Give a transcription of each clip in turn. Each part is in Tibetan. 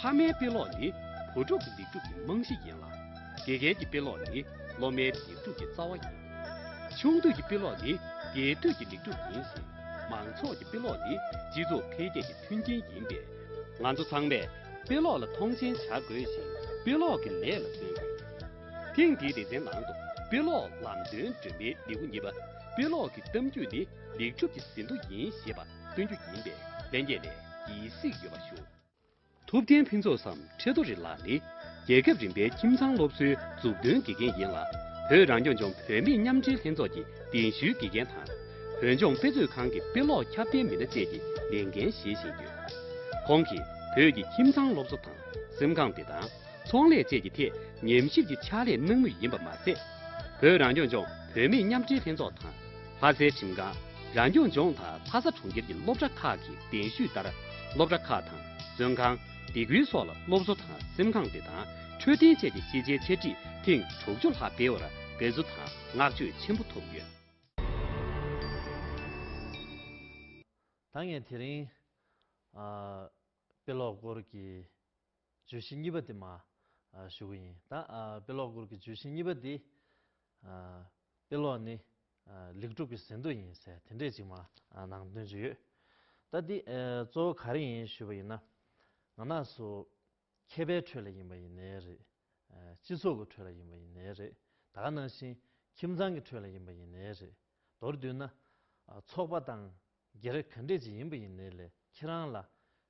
ཕ་མའི་དཔེ་ཀློག་ནི་བུ་ཕྲུག་གི་ལེགས་སྒྲུབ་ཀྱི་རྨང་གཞི་ཡིན་ལ། དགེ་རྒན་གྱི་དཔེ་ཀློག་ནི་སློབ་མའི་ལེགས་སྒྲུབ་ཀྱི་རྩ་བ་ཡིན། ཆུང་དུས་ཀྱི་དཔེ་ཀློག་ནི་རྒྱས་སྤྲོས་ཀྱི་ལེགས་སྒྲུབ་ཡིན་ཞིང། མང་ཚོགས་ཀྱི་དཔེ་ཀློག་ནི་སྤྱི་ཚོགས་འཕེལ་རྒྱས་ཀྱི་མཐུན་རྐྱེན་ཡིན་པས། ང་ཚོ་ཚང་མས་དཔེ་ཀློག་ལ་མཐོང་ཆེན་བྱ་དགོས་ཤིང་དཔེ་ཀློག་གི་ལས་ལ་བརྩོན་དགོས། ཐེངས་འདིའི་སྡེ་ཚན་ནང་དུ་དཔེ་ཀློག་ལམ་སྟོན་སྒྲོན་མེའི་ལེའུ་གཉིས་པ་དཔེ་ཀློག་གི་གཏམ་རྒྱུད་ནི་ལེགས་སྒྲུབ་ཀྱི་ཟིན་ཐོ་ཡིན་ཞེས་པ། སྟོན་རྒྱུ་ཡིན་པས་ལན་རྒྱས་ནས་ཀྱི་གཟིགས་ཡོད་པ་ཞུ། ཐུབ་བསྟན་ཕུན་ཚོགས་སམ་ཁྲི་རྡོ་རི་ལགས་ནི་རྒྱལ་ཁབ་རིམ་པའི་ཁྱིམ་ཚང་སློབ་གསོའི་འཛུགས་སྐྲུན་དགེ་རྒན་ཡིན་ལ་བོད་རང་སྐྱོང་ལྗོངས་བུད་མེད་མཉམ་འབྲེལ་ལྷན་ཚོགས་ཀྱི་གདན་ཞུའི་དགེ་རྒན་དང། བོད་ལྗོངས་དཔེ་མཛོད་ཁང་གི་དཔེ་ཀློག་ཁྱབ་གདལ་མི་སྣ་བཅས་ཀྱི་ལས་འགན་བཞེས་བཞིན་ཡོད། ཁོང་གིས་བོད་ཀྱི་ཁྱིམ་ཚང་སློབ་གསོ་དང་སེམས་ཁམས་བདེ་ཐང། ཚོང་ལས་བཅས་ཀྱི་ཐད་ཉམས་ཞིབ་ཀྱི་ཕྱག་ལས་གནང་མུས་ཡིན་པ་མ་ཟད། བོད་རང་སྐྱོང་ལྗོངས་བུད་མེད་མཉམ་འབྲེལ་ལྷན་ཚོགས་དང། ལྷ་སའི་ཁྲིམས་ཁང་རང་སྐྱོང་ལྗོངས་དང་ལྷ་ས་གྲོང་ཁྱེར་གྱི་སློབ་གྲྭ་ཁག་གི་གདན་ཞུས་ལྟར་སློབ་གྲྭ་ཁག་དང་བཙོན་ཁང། སྡེ་ཁུལ་སོགས་ལ་སློབ་གསོ་དང་སེམས་ཁམས་བདེ་ཐང་འཕྲོད་བསྟེན་བཅས་ཀྱི་ཤེས་བྱའི་འཆད་ཁྲིད་ཐེངས་དྲུག་ཅུ་ལྷག་སྤེལ་བར་དགའ་བསུ་དང་བསྔགས་བརྗོད་ཆེན་པོ་ཐོབ་ཡོད། ད་ངས་དེ་རིང། དཔེ་ཀློག་སྐོར་གྱི་བརྗོད་གཞི་གཉིས་པ་དེ་མ་ཞུ་གི་ཡིན། ད་དཔེ་ཀློག་སྐོར་གྱི་བརྗོད་གཞི་གཉིས་པ་འདིས། དཔེ་ཀློག་ནི་ལེགས་གྲུབ་ཀྱི་ཟིན་ཐོ་ཡིན་ཟེར་དེ་འདྲས་ཅིག་མ་ནང་སྟོན་གྱི་ཡོད། ད་འདི་གཙོ་བོ་ག་རེ་ཡིན་ཞུས་པ་ཡིན་ན། ང་ནག་སུ་མཁས་པའི་ཁྲོད་ལ་ཡིན་པ་ཡིན་ནའི་རེད། སྤྱི་ཚོགས་ཀྱི་ཁྲོད་ལ་ཡིན་པ་ཡིན་ནའི་རེད། ད་ག་ནང་བཞིན་ཁྱིམ་ཚང་གི་ཁྲོད་ལ་ཡིན་པ་ཡིན་ནའི་རེད། མདོར་བསྡུས་ན། ཚོགས་པ་དང་རྒྱལ་རབས་ག་འདྲས་ཅིག་ཡིན་པ་ཡིན་ནའི་ལས་ཁྱེད་རང་ལ་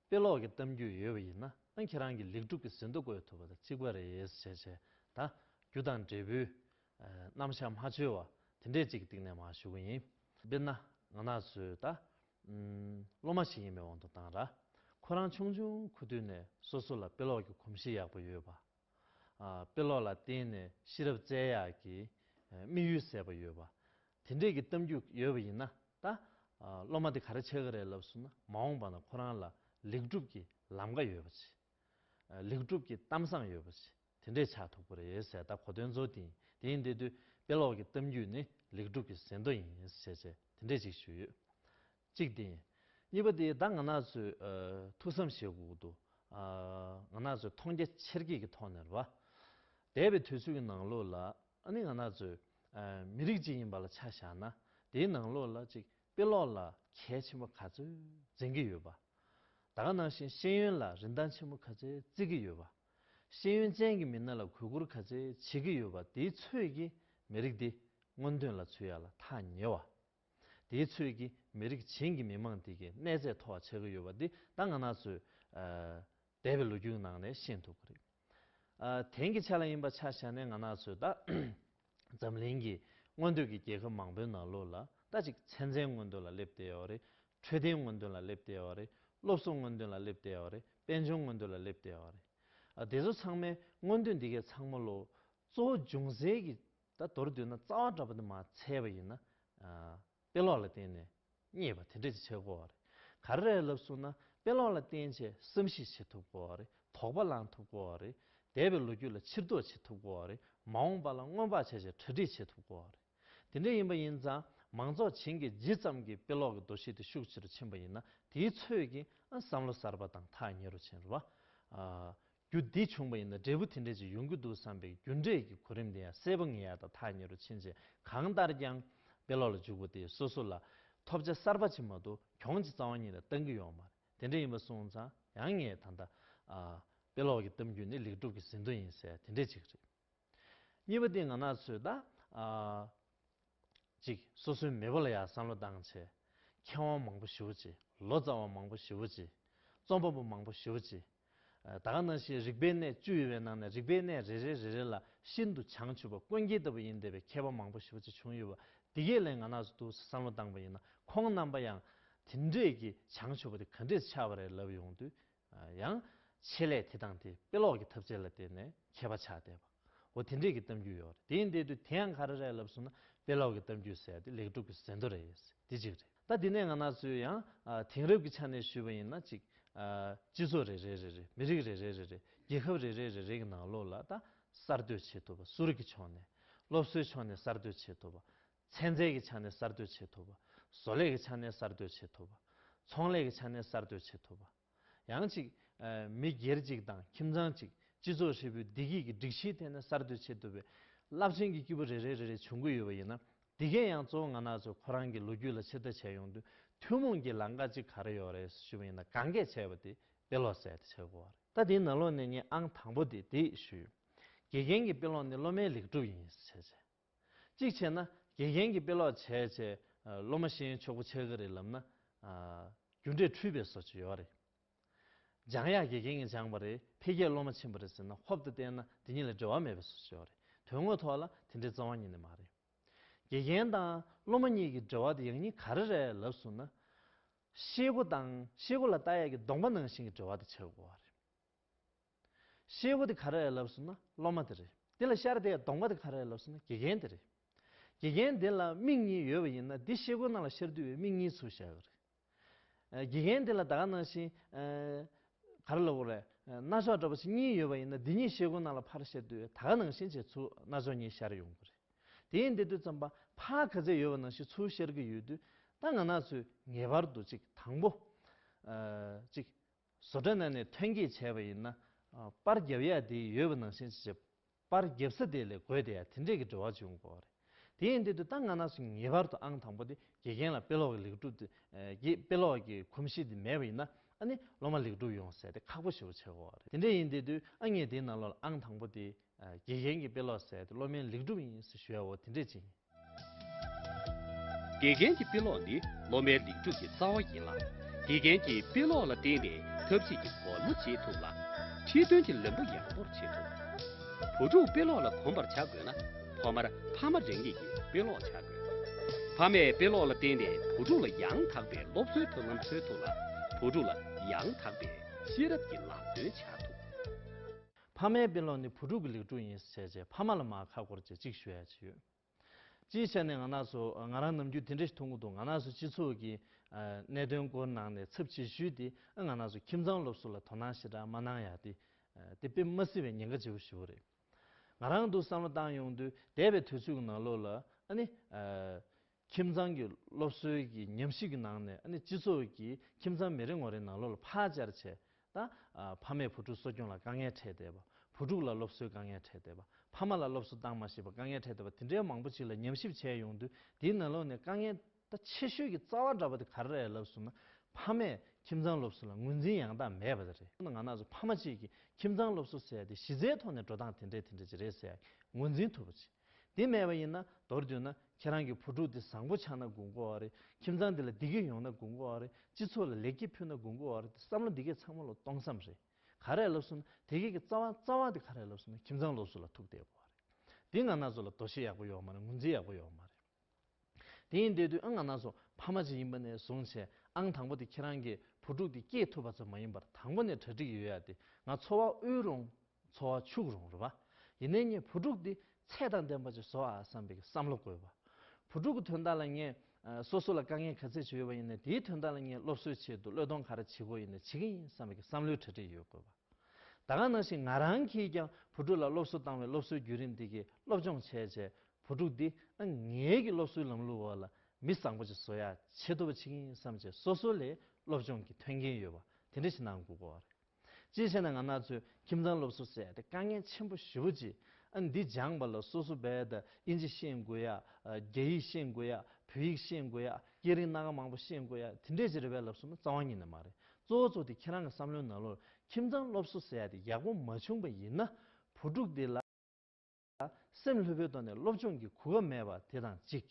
དཔེ་ཀློག་གི་གཏམ་རྒྱུད་ཡོད་པ་ཡིན་ན་ཁྱེད་རང་གི་ལེགས་གྲུབ་ཀྱི་ཟིན་ཐོ་བཀོད་ཐུབ་པ་དང་གཅིག་པ་རེད་བྱས་བྱས་དང་རྒྱུ་དང་འབྲས་བུའི་རྣམ་བཞག་མ་འཆོལ་བ་དེ་འདྲས་ཅིག་གི་སྟེང་ནས་མ་ཞུ་གི་ཡིན། དཔེར་ན་ང་ནག་ཆུའི་ད་སློབ་མ་ཞིག་ཡིན་པའི་དབང་དུ་བཏང་ར། ཁོ་རང་ཆུང་ཆུང་ཁུ་དུས་ནས་སོ་སོ་ལ་དཔེ་ཀློག་གི་གོམས་གཤིས་ཡག་པོ་ཡོད་པ་དཔེ་ཀློག་ལ་བརྟེན་ནས་ཤེས་རབ་རྩལ་ཡར་གྱི་དམིགས་ཡུལ་གསལ་པོ་ཡོད་པ། དེ་འབྲེལ་གྱི་གཏམ་རྒྱུད་ཡོད་པ་ཡིན་ན་ད། སློབ་མ་དེ་ག་རེ་བྱེད་གི་རེད་ལབ་སོང་ན་མ་འོངས་པ་ན་ཁོ་རང་ལ་ལེགས་གྲུབ་ཀྱི་ལམ་ཀ་ཡོད་པ་བྱེད། ལེགས་གྲུབ་ཀྱི་གཏམ་བཟང་ཡོད་པ་བྱེད་དེ་འདྲས་ཆགས་ཐུབ་ཀི་རེད་ཟེར་ད་གོ་དོན་མཛོ་དེ་ཡིན་དེ་ཡིན་དེ་དུས་དཔེ་ཀློག་གི་གཏམ་རྒྱུད་ནི་ལེགས་གྲུབ་ཀྱི་ཟེར་མདོ་ཡིན་ཟེར་བྱས་དེ་འདྲས་ཅིག་ཞུས་ཡོད། གཅིག་བདེན། གཉིས་པ་དེ་ད་ང་ནག་ཚོས་ཐུགས་བསམ་བཞེས་དགོས་འདུག་ང་ནག་ཚོས་མཐོང་རྒྱ་ཆེར་བསྐྱེད་ཀྱི་ཐོག་ནས་རྦད་པའི་དུས་ཚོད་ཀྱི་ནང་ལོགས་ལ་ཨ་ནི་ང་ནག་ཚོས་མི་རིགས་གཅིག་ཡིན་པ་ལ་ཆ་བཞག་ན་དེའི་ནང་ལོགས་ལ་ཅིག་དཔེ་ཀློག་ལ་གལ་ཆེན་པོ་ག་ཚོད་འཛིན་གྱི་ཡོད་པ་ད་ག་ནང་བཞིན་ཤེས་ཡོན་ལ་རིན་ཐང་ཆེན་པོ་ག་ཚོད་བརྩི་གི་ཡོད་པ་ཤེས་ཡོན་ཅན་གྱི་མི་སྣ་ལ་གུས་བཀུར་ག་ཚོད་བྱེད་ཀྱི་ཡོད་པ་དེའི་ཚོད་ཀྱིས་མི་རིགས་འདི་སྔོན་ཐོན་ལ་ཚུད་ཡག་ལ་ཐག་ཉེ་བ། དེའི་ཚོད་ཀྱིས་མི་རིགས་གཞན་གྱི་མི་མང་དེ་གའི་གནས་ཚད་མཐོ་བ་ཆགས་ཀྱི་ཡོད་པ་འདི་ད་ང་ན་ཚོས་འདས་པའི་ལོ་རྒྱུས་ནང་ནས་ཤེས་ཐུབ་ཀྱི་རེད། དེང་གི་ཆ་ལ་ཡིན་པ་ཆ་བཞག་ནས་ང་ན་ཚོས་ད་འཛམ་གླིང་གི་མངོན་འདོད་ཀྱི་རྒྱལ་ཁབ་མང་པོའི་ནང་ལོ་ལ་ད་གཅིག་ཚན་རྩལ་མངོན་འདོད་ལ་སླེབས་བསྡད་ཡོད་རེད། འཕྲོད་བསྟེན་མངོན་འདོད་ལ་སླེབས་བསྡད་ཡོད་རེད། སློབ་གསོ་མངོན་འདོད་ལ་སླེབས་བསྡད་ཡོད་རེད། དཔལ་འབྱོར་མངོན་འདོད་ལ་སླེབས་བསྡད་ཡོད་རེད། དེ་ཚོ་ཚང་མའི་མངོན་འདོད་འདི་གའི་ཚང་མ་ལོ། གཙོ་བོ་འབྱུང་སའི་གི་ད་མདོར་བསྡུས་ན་རྩ་བ་འདྲ་པོ་དེ་མ་འཚལ་བ་ཡིན་ན། དཔེ་ཀློག་ལ་བརྟེན་ནས་རྙེད་པ་དེ་འདྲ་ཅིག་བྱེད་དགོས་པ་རེད། ག་རེ་རེད་ལབ་གསུངས་ན་དཔེ་ཀློག་ལ་བརྟེན་ཆེད་བསམ་གཞིག་བྱེད་ཐུབ་དགོས་པ་རེད་དོགས་པ་ལངས་ཐུབ་དགོས་པ་རེད། འདས་པའི་ལོ་རྒྱུས་ལ་ཕྱིར་ལྡོག་བྱེད་ཐུབ་དགོས་པ་རེད་མ་འོངས་པ་ལ་སྔོན་དཔག་བྱས་ཆེད་གྲ་སྒྲིག་བྱེད་ཐུབ་དགོས་པ་རེད། དེ་འདྲ་ཡིན་པ་ཡིན་ཙང་མང་ཚོགས་བྱིངས་ཀྱི་ཇི་ཙམ་གྱིས་དཔེ་ཀློག་གི་འདུ་ཤེས་དེ་ཤུགས་ཆེ་རུ་ཕྱིན་པ་ཡིན་ན་དེའི་ཚོད་ཀྱིས་བསམ་བློ་གསར་པ་དང་ཐག་ཉེ་རུ་ཕྱིན་རུང། རྒྱུ་འདི་བྱུང་བ་ཡིན་ན་འབྲས་བུ་དེ་འདྲས་ཅིག་ཡོང་གི་འདུག་བསམ་པའི་རྒྱུ་འབྲས་ཀྱི་གོ་རིམ་དེ་ཡང་གསལ་པོ་ངེས་ཡག་དང་ཐག་ཉེ་རུ་ཕྱིན་རྗེས་གང་ལྟར་ཀྱང། དཔེ་ཀློག་ལ་འཇུག་པ་དེས་སོ་སོ་ལ། ཐོབ་བྱ་གསར་པ་ཕྱི་མ་དུ་གྱོང་གྱི་རྩ་བ་ཉིད་ལ་བཏང་གི་ཡོང་བ་རེད་དེ་འདྲ་ཡིན་པ་སོང་ཙང་ཡང་ངས་ད་ལྟ། དཔེ་ཀློག་གི་གཏམ་རྒྱུད་ནི་ལེགས་གྲུབ་ཀྱི་ཟིན་ཐོ་ཡིན་གསལ་དེ་འདྲས་ཅིག་རེད། གཉིས་པ་ཏིང་ངང་ན་ཚོད་ལྟ། གཅིག། སོ་སོའི་མེས་པོ་ལ་ཡང་བསམ་བློ་བཏང་ཆེད། མཁས་དབང་མང་པོ་ཞི་བོ་གཅིག་ལོ་ཙཱ་བ་མང་པོ་ཞི་བོ་གཅིག། རྩོམ་པ་པོ་མང་པོ་ཞི་བོ་གཅིག། ད་ག་ནང་བཞིན་རིག་པའི་གནས་བཅུ་ཡོད་པའི་ནང་ནས་རིག་པའི་གནས་རེ་རེ་རེ་རེ་ལ་ཤིན་ཏུ་བྱང་ཆུབ་པ་དཀོན་དཀྱིལ་ལྟ་བུ་ཡིན་བསྡད་པའི་མཁས་པ་མང་པོ་ཞི་བོ་གཅིག་བྱུང་ཡོད་པ་འདི་གས་ལན་ང་ནག་ཚོ་ཐུགས་སུ་བསམ་བློ་བཏང་པ་ཡིན་ན་ཁོང་རྣམ་པ་ཡང་དེ་འདྲས་ཀྱི་བྱང་ཆུབ་པ་དེ་ག་འདྲས་ཆགས་པ་རེད་ལབ་ཡོང་དུས་ཡང། ཆེད་ལས་དེ་དང་དེ་དཔེ་ཀློག་གི་ཐབས་རྩལ་ལ་བརྟེན་ནས་མཁས་པ་ཆགས་བསྡད་པ། འོ་དེ་འདྲས་ཀྱི་གཏམ་རྒྱུད་ཡོད་རེད་དེ་ཡིན་དེ་དུས་དེ་ཡང་ག་རེ་རེད་ལབ་སོང་ན་དཔེ་ཀློག་གི་གཏམ་རྒྱུད་ཟེར་དེ་ལེགས་གྲུབ་ཀྱི་ཟེར་མདོ་རེད་ཡོད་སྲིད་དེ་གཅིག་རེད་ད་དེ་ནས་ང་ནག་ཚོས་ཡང། དེང་རབས་ཀྱི་ཆ་ནས་ཞུས་པ་ཡིན་ན་གཅིག། སྤྱི་ཚོགས་རེ་རེ་རེ་རེ་མི་རིགས་རེ་རེ་རེ་རེ་རྒྱལ་ཁབ་རེ་རེ་རེ་རེ་གྱི་ནང་ལོགས་ལ་ད་གསར་གཏོད་བྱེད་ཐུབ་པ་གསོ་རིག་གི་ཕྱོགས་ནས། སློབ་གསོའི་ཕྱོགས་ནས་གསར་གཏོད་བྱེད་ཐུབ་པ། ཚན་རྩལ་གྱི་ཆ་ནས་གསར་གཏོད་བྱེད་ཐུབ་པ། བཟོ་ལས་ཀྱི་ཆ་ནས་གསར་གཏོད་བྱེད་ཐུབ་པ། ཚོང་ལས་ཀྱི་ཆ་ནས་གསར་གཏོད་བྱེད་ཐུབ་པ། ཡང་གཅིག། མི་སྒེར་གཅིག་དང་ཁྱིམ་ཚང་གཅིག་སྤྱི་ཚོགས་ཧྲིལ་པོའི་བདེ་སྐྱིད་ཀྱི་སྒྲིག་གཞིའི་ཐད་ནས་གསར་གཏོད་བྱེད་ཐུབ་པའི་རླབས་ཆེན་གྱི་སྐྱེས་བུ་རེ་རེ་རེ་རེ་བྱུང་གི་ཡོད་པ་ཡིན་ན། འདི་གས་ཡང་གཙོ་བོ་ང་ནག་ཚོས་ཁོ་རང་གི་ལོ་རྒྱུས་ལ་ཕྱིར་ལྟ་བྱས་ཡོང་དུས་ཐུན་མོང་གི་ལང་ཀ་གཅིག་ག་རེ་ཡོད་རེད་ཞུས་པ་ཡིན་ན་གང་གས་བྱས་པ་དེ་དཔེ་ཀློག་གསལ་དེ་བྱེད་དགོས་བ་རེད། ད་དེའི་ནང་ལོགས་ནས་ངས་ཨང་དང་པོ་དེ་དེ་ཞུས་ཡོད། དགེ་རྒན་གྱི་དཔེ་ཀློག་ནི་སློབ་མའི་ལེགས་གྲུབ་ཡིན་ཞེས་བྱས། གཅིག་བྱས་ན་དགེ་རྒན་གྱིས་དཔེ་ཀློག་བྱས་བྱས་སློབ་མ་ཤེས་ཡོན་ཆོག་པོ་ཆགས་ཀྱི་རེད་ལབ་ན། རྒྱུ་འབྲས་འཁྲུལ་པའི་བཟོ་བཅོས་ཡོད་རེད། སྦྱང་ཡག་དགེ་རྒན་གྱིས་སྦྱངས་པ་རེད་འཕེལ་རྒྱས་སློབ་མ་ཕྱིན་པ་རེད་ཟེར་ན་ཧོབ་ཏུ་བལྟས་ན་དེ་གཉིས་ལ་འབྲེལ་བ་མེད་པའི་བཟོ་བཅོས་ཡོད་རེད་དོན་དངོས་ཐོག་ལ་དེ་འདྲའི་རྩ་བ་ཉིད་ནས་མ་རེད། དགེ་རྒན་དང་སློབ་མ་གཉིས་ཀྱི་འབྲེལ་བ་དེ་ཡག་ཉེས་ག་རེ་རེད་ལབ་སོང་ན། ཤེས་སྒོ་དང་ཤེས་སྒོ་ལ་བལྟ་ཡག་གི་གདོང་པ་ནང་བཞིན་གྱི་འབྲེལ་བ་དེ་ཆགས་དགོས་བ་རེད། ཤེལ་བུ་དེ་ག་རེ་ལབ་ཟེར་ན་སློབ་མ་དེ་རེད་དེ་ལ་ཤར་དེའི་གདོང་པ་དེ་ག་རེ་ལབ་ཟེར་ན་དགེ་རྒན་དེ་རེད། དགེ་རྒན་དེ་ལ་མིག་གཉིས་ཡོད་པ་ཡིན་ན་དེ་ཤེལ་བུ་ནང་ལ་ཤར་དུས་བའི་མིག་གཉིས་ཚུར་བཞག་གི་རེད། དགེ་རྒན་དེ་ལ་ད་ག་ནང་བཞིན་ག་རེ་ལབ་དགོས་རེད་རྣ་ཅོག་འདྲ་པོ་ཆེ་གཉིས་ཡོད་པ་ཡིན་ན་དེ་གཉིས་ཤེལ་བུ་ནང་ལ་ཕར་ཤར་དུས་ད་ག་ནང་བཞིན་བྱས་ཚུར་རྣ་ཅོག་གཉིས་ཤར་ཡོང་གི་རེད། དེ་ཡིན་དེ་དུས་རྩོམ་པ་པ་ག་ཚད་ཡོད་པ་ནང་བཞིན་ཚུར་ཤར་གི་ཡོད་དུས་ད་ང་ནག་ཚོས་ངེས་པར་དུ་ཅིག་དང་པོ་ཅིག་བཟོ་གྲྭ་ནང་ནས་ཐོན་སྐྱེད་བྱས་པ་ཡིན་ན། པར་བརྒྱབ་ཡག་དེ་ཡོད་པ་ནང་བཞིན་ཅི་བྱེད། པར་བརྒྱབ་ས་དེ་ལས་དགོས་དེ་ཡག་དེ་འདྲས་ཀྱི་བྲོ་བ་འབྱུང་དགོས་པ་རེད། དེ་ཡིན་དུས་དུས་ད་ང་ན་སུ་ངེས་པར་དུ་ཨང་དང་པོ་དེ་དགེ་རྒན་ལ་དཔེ་ཀློག་གི་ལེགས་གྲུབ་དེ་དགེ་དཔེ་ཀློག་གི་གོམས་གཤིས་དེ་མེད་པ་ཡིན་ན་ཨ་ནི་སློབ་མ་ལེགས་གྲུབ་ཡོང་ཟེར་དེ་ཁག་པོ་ཞུ་བ་བྱེད་དགོས་པ་རེད་དེ་འདྲས་ཡིན་དེ་དུས་ཨ་ངས་དེའི་ནང་ལོགས་ལ་ཨང་དང་པོ་དེ་དགེ་རྒན་གྱིས་དཔེ་ཀློག་ཟེར་ཏེ་སློབ་མའི་ལེགས་འགྲུབ་ཡིན་ཟེར་ཞུ་བའོ་དེ་འདྲས་ཅན། དགེ་རྒན་གྱི་དཔེ་ཀློག་ནི་སློབ་མའི་ལེགས་འགྲུབ་ཀྱི་རྩ་བ་ཡིན་ལ། དགེ་རྒན་གྱིས་དཔེ་ཀློག་ལ་བརྟེན་ནས་ཐབས་ཤེས་ཀྱི་སྒོར་མོ་འབྱེད་ཐུབ་ལ། ཁྲིད་སྟོན་གྱི་ལམ་བུ་ཡག་པོར་ཕྱེ་ཐུབ། བུ་ཕྲུག་དཔེ་ཀློག་ལ་གོམས་པར་བྱ་དགོས་ན་ཐོག་མར་ཕ་མ་རང་ཉིད་ཀྱིས་དཔེ་ཀློག་བྱ་དགོས། ཕ་མས་དཔེ་ཀློག་ལ་བརྟེན་ནས་བུ་ཕྲུག་ལ་ཡང་དག་པའི་སློབ་གསོའི་ཐབས་ལམ་འཚོལ་ཐུབ་ལ། བུ་ཕྲུག་ལ་ཡང་དག་པའི་ཤེས་རབ་ཀྱི་ལམ་སྟོན་བྱ་ཐུབ། ཕ་མའི་དཔེ་ཀློག་ནི་བུ་ཕྲུག་གི་ལེགས་འགྲུབ་ཡིན་ཟེར་བྱས་ཕ་མ་ལ་མ་ཁ་བསྐོར་ཆེད་ཅིག་ཞུ་ཡ་བྱས་ཡོད། སྤྱིའི་ཆ་ནས་ང་ནག་སུ་ང་རང་ནམ་རྒྱུན་དེ་འདྲའི་ཐུགས་འགུག་འདུག་ང་ནག་སུ་སྤྱི་ཚོགས་ཀྱི་གནད་དོན་སྐོར་ནང་ནས་ཚབ་ཆེ་ཞུས་ཏེ་ཨ་ང་ནག་སུ་ཁྱིམ་ཚང་སློབ་གསོ་ལ་དོ་སྣང་ཞེ་དྲག་མ་གནང་ཡ་དེ་དེ་དཔེ་མ་སྲིད་པའི་ཉེན་ཁ་ཆེ་པོ་ཞིག་བོ་རེད། ང་རང་འདུག་བསམ་བློ་བཏང་ཡོང་དུས་འདས་པའི་དུས་ཚོད་ཀྱི་ནང་ལོགས་ལ་ཨ་ནི། ཁྱིམ་ཚང་གི་སློབ་གསོའི་གི་ཉམས་ཞིབ་ཀྱི་ནང་ནས་ཨ་ནི་སྤྱི་ཚོགས་ཀྱི་ཁྱིམ་ཚང་མི་རེ་ངོ་རེ་ནང་ལོག་ལ་ཕར་བཅར་བྱས་ད། ཕ་མས་བུ་ཕྲུག་གསོ་སྐྱོང་ལ་དཀའ་ངལ་འཕྲད་བསྡད་པ། བུ་ཕྲུག་ལ་སློབ་གསོའི་དཀའ་ངལ་འཕྲད་བསྡད་པ། ཕ་མ་ལ་སློབ་གསོ་བཏང་མ་ཤེས་པར་དཀའ་ངལ་འཕྲད་བསྡད་པ་དེ་འདྲའི་མང་པོ་ཞིག་ལ་ཉམས་ཞིབ་བྱས་ཡོང་དུས་དེའི་ནང་ལོག་ནས་དཀའ་ངལ་ད་ཆེ་ཤོས་ཀྱི་རྩ་བ་འདྲ་པོ་དེ་ག་རེ་རེད་ལབ་སོང་ན་ཕ་མས་ཁྱིམ་ཚང་སློབ་གསོ་ལ་ངོས་འཛིན་ཡང་དག་མེད་པ་དེ་རེད་ང་ན་ཟུག་ཕ་མ་གཅིག་གིས་ཁྱིམ་ཚང་སློབ་གསོ་ཟེར་དེ་གཞི་རྩའི་ཐོག་ནས་འགྲོ་སྟངས་དེ་འདྲའི་དེ་འདྲའི་ཅི་རེད་ཟེར་ཡག་གི་ངོས་འཛིན་ཐུབ་པ་ཅི། འདི་མེད་པ་ཡིན་ན་མདོར་བསྡུས་ན་ཁྱེད་རང་གི་བུ་ཕྲུག་འདི་བཟང་པོ་ཆགས་ན་དགུན་སྐོར་བ་རེད་ཁྱིམ་ཚང་འདི་ལ་བདེ་སྐྱིད་ཡོང་ན་དགུན་སྐོར་བ་རེད་སྤྱི་ཚོགས་ལ་ལེགས་སྐྱེས་ཕུལ་ན་དགུན་སྐོར་བ་རེད་དེ་བསམ་བློ་འདི་གས་ཚང་མ་ལོ་སྟོང་བསམ་རེད་ག་རེ་ལབ་སོང་ན་དེ་སྐད་ཀྱི་རྩ་བ་རྩ་བ་དེ་ག་རེ་ལབ་སོང་ན་ཁྱིམ་ཚང་ལོགས་སུ་ལ་ཐུག་བསྡད་དགོས་བ་རེད་འདི་ང་ན་ཚོ་ལ་དོ་ཤེས་ཡག་པོ་ཡོག་མ་རེད་ངོས་འཛིན་ཡག་པོ་ཡོག་མ་རེད། དེ་ཡིན་དེ་དུས་ཨང་ང་ན་སོ་ཕ་མ་གཅིག་ཡིན་པ་ནས་བཟུང་བྱས་ཨང་དང་པོ་དེ་ཁྱེད་རང་གི་བུ་ཕྲུག་དེ་སྐྱེས་ཐུབ་པ་ཙམ་མ་ཡིན་པར་དང་པོ་ནས་གྲ་སྒྲིག་ཡོད་ཡ་དེ་ང་འཚོ་བ་དབུལ་རུང་འཚོ་བ་ཕྱུག་རུང་རེད་བ། ཡིན་ནའི་ངས་བུ་ཕྲུག་དེ་ཚད་དང་ལྡན་པ་ཅིག་བཟོ་ཨ་བསམ་པའི་བསམ་བློ་བཀོལ་བ། བུ་ཕྲུག་གི་དོན་དག་ལ་ངས་སོ་སོ་ལ་དཀའ་ངལ་ག་ཚད་ཅིག་ཡོད་པ་ཡིན་ནའི་དེའི་དོན་དག་ལ་ངས་སློབ་གསོའི་ཆེད་དུ་བློས་གཏོང་ག་རེ་བྱེད་དགོས་ཡིན་ནའི་བྱེད་ཀྱི་ཡིན་བསམ་པའི་བསམ་བློའི་གྲ་སྒྲིག་ཡོད་དགོས་བ། ད་ག་ནང་བཞིན་ང་རང་གིས་ཀྱང་བུ་ཕྲུག་ལ་སློབ་གསོ་བཏང་བའི་སློབ་གསོའི་བརྒྱུད་རིམ་དེ་གི་སློབ་སྦྱོང་བྱས་བྱས་བུ་ཕྲུག་འདི་ཨ་མྱེས་ཀྱི་སློབ་གསོའི་ལམ་ལུགས་འོག་ལ་མི་བཟང་པོ་ཞིག་བཟོ་ཡ་བྱེད་ཐུབ་པ་བྱེད་ཀྱི་ཡིན་བསམ་བྱས་སོ་སོ་ལས་སློབ་སྦྱོང་གི་ཐོན་སྐྱེན་ཡོད་པ་དེ་འདྲ་ཞིག་གནང་དགོས་དགོས་བ་རེད། ཅིའི་ཕྱིར་ན་ང་ནག་ཚོས་ཁྱིམ་ཚང་སློབ་གསོ་བསད་དེ་དཀའ་ངལ་ཆེན་པོ་ཞི་བོ་གྱིས་ཨ་འདི་སྦྱངས་པ་ལ་སོ་སོ་བས་ད་ཨིན་ཇི་ཤེས་དགོས་ཡ་རྒྱ་ཡིག་ཤེས་དགོས་ཡ་བོད་ཡིག་ཤེས་དགོས་ཡ་སྐད་རིགས་སྣ་ག་མང་པོ་ཤེས་དགོས་ཡ་དེ་འདྲས་ཀྱི་རེ་བས་ལབ་སོང་ན་རྩ་བ་ཉིད་ནས་མ་རེད་གཙོ་བོ་གཙོ་དེ་ཁྱེད་རང་གི་བསམ་བློའི་ནང་ལོར་ཁྱིམ་ཚང་སློབ་གསོ་བསད་དེ་ཡག་པོ་མ་བྱུང་བ་ཡིན་ན་བུ་ཕྲུག་འདི་ལ། སེམས་ལྷོད་པོའི་ཐོག་ནས་སློབ་སྦྱོང་གི་གོ་སྐབས་མེད་པ་དེ་དང་གཅིག།